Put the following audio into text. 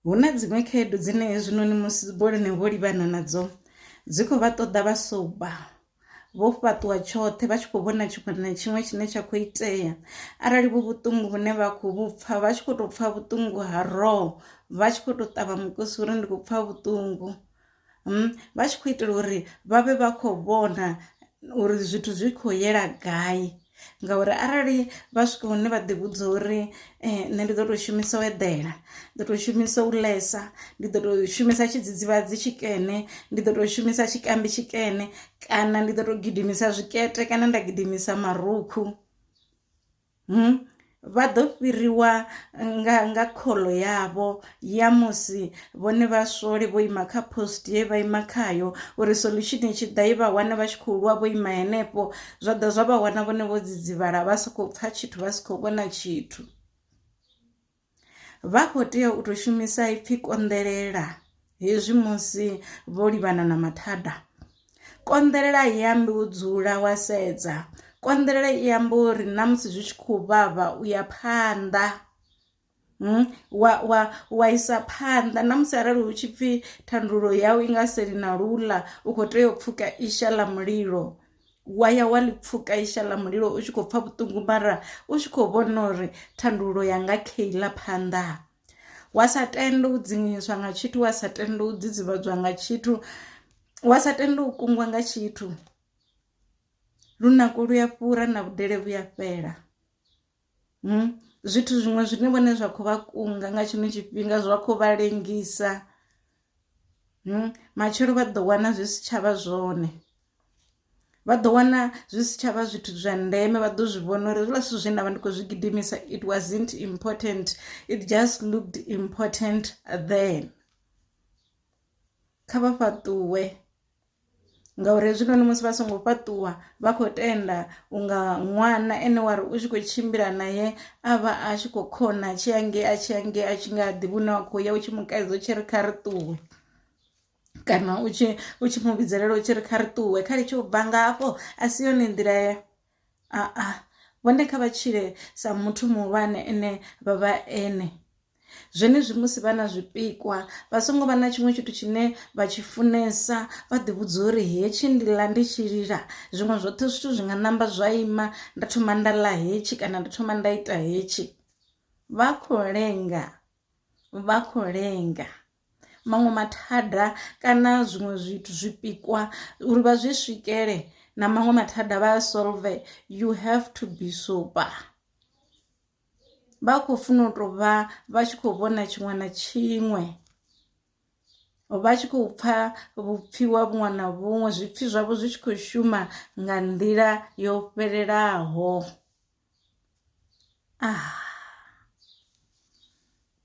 Hu na dziṅwe khaedu dzine hezwinoni musi boloni vho livhana nadzo dzi kho vha ṱoḓa vha soba vho fhaṱuwa tshoṱhe vha tshi kho vhona tshiṅwe na tshiṅwe tshine tsha kho itea arali vhu vhuṱungu vhune vha khou vhu pfha vha tshi kho to pfha vhuṱungu ha roho vha tshi kho to ṱavha mukosi uri ndi khou pfha vhuṱungu. mm, vha tshi khou itela uri vha vhe vha khou vhona uri zwithu zwi khou yela gai ngauri arali vha swika hune vha ḓivhudza uri eh, nṋe ndi ḓo tou shumisa u eḓela ndi ḓo tou shumisa u lesa ndi ḓo tou shumisa tshidzidzivhadzi tshikene ndi ḓo tou shumisa tshikambi tshikene kana ndi ḓo tou gidimisa zwikete kana nda gidimisa marukhu Vha ḓo fhiriwa nga nga khoḽo yavho ya musi vhone vha swole vho ima kha post ye vha ima khayo uri solution i tshi ḓa i vha wane vha tshi khou lwa vho ima henefho zwa ḓa zwa vha wana vhone vho dzidzivhala vha si khou pfha tshithu vha si khou vhona tshithu. Vha khou tea u tou shumisa ipfi konḓelela hezwi musi vho livhana na mathada. Konḓelela i ambi u dzula wa sedza, konḓelela i amba uri na musi zwi tshi khou vhavha u ya phanḓa wa wa wa isa phanḓa na musi arali hu tshi pfhi thandululo yau i nga seli na luḽa u kho tea u pfuka isha ḽa mulilo. wa ya wa ḽi pfuka isha ḽa mulilo u tshi khou pfha vhuṱungu mara u tshi kho vhona uri thandululo yanga kha iḽa phanḓa wa sa tende u dzinginyiswa nga tshithu wa sa tende u dzidzivhadzwa nga tshithu wa sa tende u kungwa nga tshithu lunako lu ya fhura na vhudele vhuya fhela. hmm, zwithu zwiṅwe zwine vhone zwa khou vha kunga nga tshino tshifhinga zwa khou vha lengisa hmm, matshelo vha ḓo wana zwi si tshavha zwone vha ḓo wana zwi si tshavha zwithu zwa ndeme vha ḓo zwi vhona uri zwiḽa zwithu zwe nda vha ndi khou zwi gidimisa it wasn't important it just looked important then kha vha fhaṱuwe ngauri hezwinoni musi vha songo fhaṱuwa vha khou tenda unga ṅwana ene wa ri u tshi khou tshimbila naye a vha a tshi khou khona tshi ange a tshi ange a tshi nga ḓivhi une wa khou ya u tshi mu kaidza u tshi ri kha ri ṱuwe kana u tshi u tshi mu vhidzelela u tshi ri kha ri ṱuwe kha litshe u bva ngafho a si yone nḓila aa vhone kha vha tshile sa muthu muhulwane ene vha vha ene zwenezwi musi vha na zwipikwa vha songo vha na tshiṅwe tshithu tshine vha tshi funesa vha ḓi vhudza uri hetshi ndi ḽa ndi tshi lila zwiṅwe zwoṱhe zwithu zwi nga namba zwa ima nda thoma nda ḽa hetshi kana nda thoma nda ita hetshi vha khou lenga vha khou lenga. maṅwe mathada kana zwiṅwe zwithu zwipikwa uri vha zwi swikele na maṅwe mathada vha a solve you have to be sober vha khou funa u tou vha vha tshi khou vhona tshiṅwe na tshiṅwe vha tshi khou pfha vhupfiwa vhuṅwe na vhuṅwe zwipfi zwavho zwi tshi khou shuma nga nḓila yo fhelelaho ah